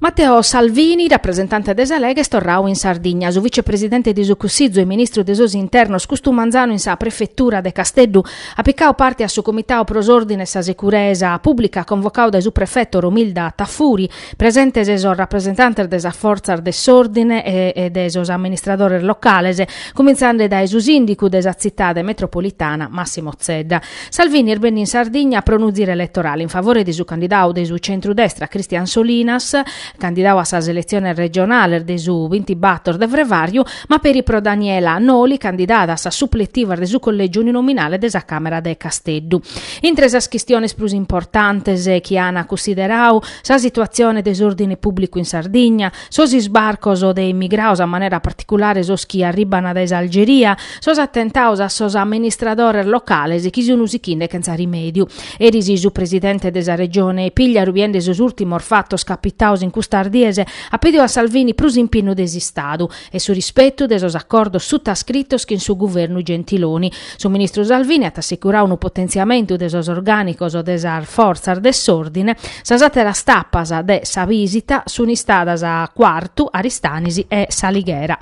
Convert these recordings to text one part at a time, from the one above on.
Matteo Salvini, rapresentante de sa Lega, est torrau in Sardigna. Su vicepresidente de su Cussizu e ministru de sos Internos custu manzanu in sa Prefetura de Casteddu at picau parte a su Comitau pro s'Ordine e sa Securesa Pùblica convocau dae su prefeto Romilda Tafuri, presentes sos rapresentantes de sas fortzas de s'ordine e de sos amministradores locales, cumintzende dae su sìndicu de sa tzitade metropolitana Massimo Zedda. Salvini est benniu in Sardigna pro unu ziru eletorale in favore de su candidau de su centru-destra Christian Solinas, candidau a sas eletziones regionales de su bintibator de frevàriu, ma peri pro Daniela Noli, candidada a sas supletivas de su collègiu uninominale de sa Càmera de Casteddu. Intre sas chistiones prus importantes chi an cunsiderau sa situatzione de s'òrdine pùblicu in Sardigna, sos isbarcos de immigraos a manera particulare sos chi arribbana dae s'Algeria, sos attentaos a sos amministradores locales chi sun sichinde chentza rimediu. Eris su presidente de sa Regione Pigliaru biende sos urtimos fattos capitaos in custas dies at pediu a Salvini prus impinnu de s'Istadu e su rispettu de sos accordos suttascrittos chin su Guvernu Gentiloni. Su ministru Salvini at assicurau unu potentziamentu de sos orgànicos de sas fortzas de s'òrdine. Sas àteras tapas de sa bìsita sunt istadas a Cuartu, Aristanis e S'Alighera.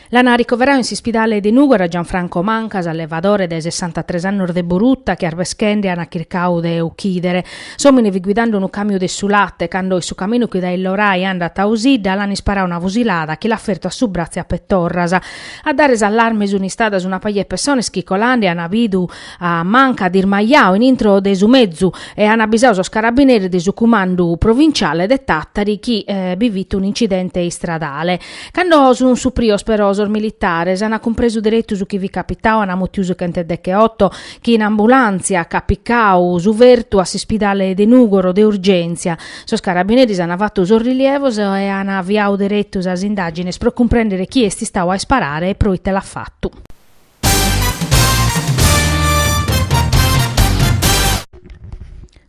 L'ana ricoverau in s'ispidale de Nùgoro a Gianfranco Manca, s'allevadore de sessantatres annos de Borutta, chi arbeschende ana chircau de uchìdere. S'òmine fit guidande unu càmiu de su late, cando in su caminu chi dae Illorai andat a Osidda l'an isparau una fusilada chi l'at fertu a su bratzu e a petorras. A dare s'allarme sunt istadas una paja de pessones chi colande an bidu a Manca dismajau in intro de su mezu e an abisau sos carabineris de su cumandu provinciale de Tàtari chi bi fit un'incidente istradale. Cando sun suprios però sos militares ana cumpresu deretu su chi fit capitau, ana mutiu su chent'e deche otto chi in ambulàntzia ch'at picau su fertu a s'ispidale de Nùgoro de urgèntzia. Sos carabineris ana fatu sos rilievos e ana aviau deretu sas indàgines pro cumprèndere chi est istau a isparare e pro ite l'at fatu.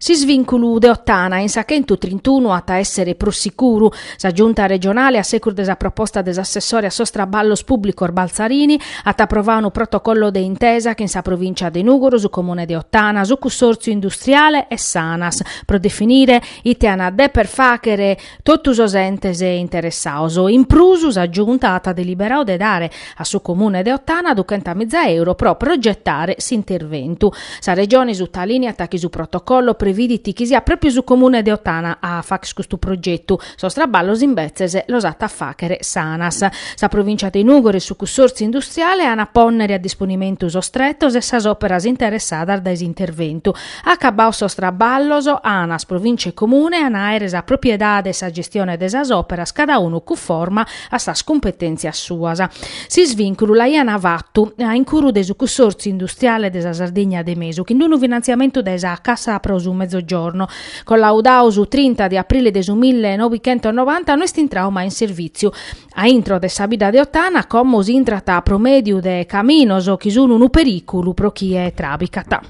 S'isvìnculu de Ottana in sa chentu trintunu at a èssere prus sicuru. Sa Giunta regionale, a secus de sa proposta de s'assessore a sos traballos pùblicos Balzarini, at aprovau unu protocollo de intesa chin sa Provìncia de Nùgoro, su Comune de Ottana, su Cussòrtziu Industriale e s'Anas, pro definire ite an a dèpere fàchere Totu sos entes interessados. In prus, sa Giunta at deliberadu de dare a su Comune de Ottana duchenta miza euro pro progetare s'interventu. Sa Regione sutalìniat chi su protocollo previdit chi siat pròpriu su Comune de Ottana a fàghere custu progetu, sos traballos imbetzes los at a fàghere s'Anas. Sa Provìncia de Nùgoro e su cussòrtziu industriale an a pònnere a disponimentu sos tretos e sas òperas interessadas dae s'interventu. Acabados sos traballos, Anas Provìncia e Comune an a àere sa propriedade e sa gestione de sas òperas cada unu cunforma a sas cumpetèntzias suas. S'isvìnculu l'aiant fatu a incuru de su Cussòrtziu Industriale de sa Sardigna de Mesu chin d'unu finantziamentu de sa Cassa pro su Mezzogiorno, collaudadu su trinta de aprile de su mille novighentosnovanta, no est intradu mai in servìtziu. A intro de sa bidda de Ottana como si intrat pro mèdiu de caminos chi sun unu perìculu pro chie trabicat.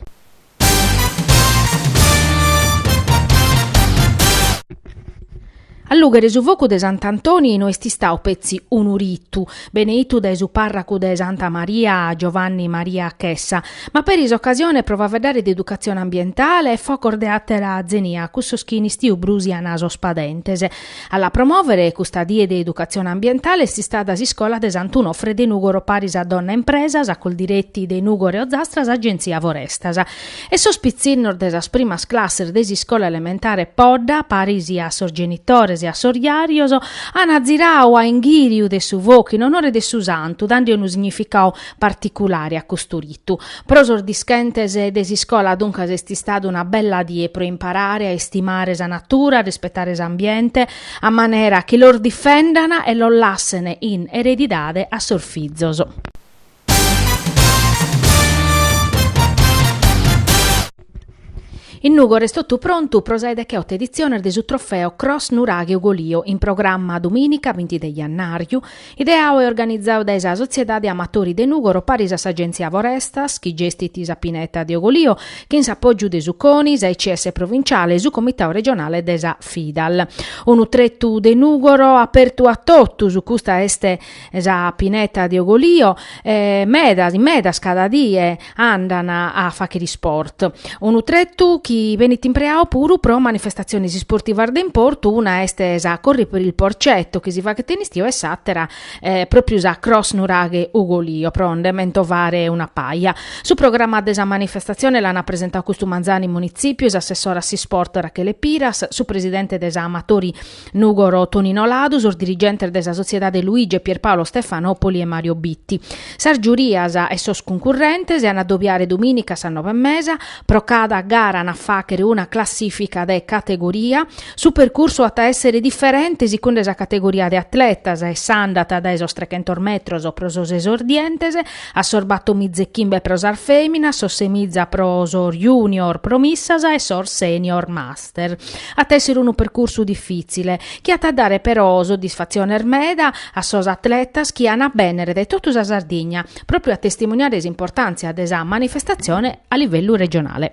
Allùghere su focu de Sant'Antoni no est istadu petzi unu ritu, beneitu dae su parracu de Santa Maria Giovanni Maria Chessa, ma peri s'ocasione pro faeddare de educatzione ambientale e focos de àtera zenia, cussos chi in istiu brusian sos padentes. A la promòvere custa die de educatzione ambientale est istada s'iscola de Sant'Unofre de Nùgoro paris a Donna Impresa, sa Coldiretti de Nùgoro e Ozastra, s'Agenzia Forestas. E sos pitzinnos de sas primas classes de s'iscola elementare Podda paris a sos genitores e a sos jarios an aziradu a inghìriu de su focu in onore de su santu dande unu significadu particulare a custu ritu. Pro sos dischentes de s'iscola duncas est istada una bella die pro imparare a istimare sa natura, a rispetare s'ambiente, a manera chi los difendan e los lassen in eredidade a sos fizos. In Nùgoro est totu prontu pro sa 'e decheoto editziones de su trofeo Cross Nuraghe Ugolìo, in programma dumìnica binti de jannàriu, Ideadu e organizadu dae sa Sotziedade Amatori de Nùgoro paris a s'Agèntzia Forestas, chi gestit sa pineta de Ogolio, chin s'apògiu de su CONI, s'AICS provintziale e su Comitadu regionale de sa Fidal. Unu tretu de Nùgoro apertu a totus, custa est sa pineta de Ogolio e medas, medas cada die, andan a fàghere isport, unu tretu chi benit impreadu puru pro manifestatziones isportivas de importu, una est sa Corri per il Porcetto chi si faghet in istiu e s'àtera pròpriu sa Cross Nuraghe Ugolìo pro nde mentovare una paja. Su programma de sa manifestatzione l'an presentadu custu manzanu in Munitzipiu s'assessora a s'isport Rachele Piras, su presidente de sa Amatori Nugoro, Tonino Ladu, sos dirigentes de sa Sotziedade Luigi e Pierpaolo Stefanopoli e Mario Bitti. Sas giurias e sos cuncurrentes s'an a dobiare domìnica a sas nove e mesa, pro cada gara an a fàghere una classìfica de categoria. Su percursu at a èssere diferente sicunde sa categoria de atletas e s'andat dae sos trechentos metros pro sos esordientes a sos batomiza e chimbe pro sas fèminas, sos semiza pro sos junior promissas e sos senior mas. at èssere unu percursu difìtzile, chi at a dare però soddisfatziones meda a sos atletas chi an a bènnere dae totu sa Sardigna, pròpriu a testimuniare s'importàntzia de sa manifestatzione a livellu regionale.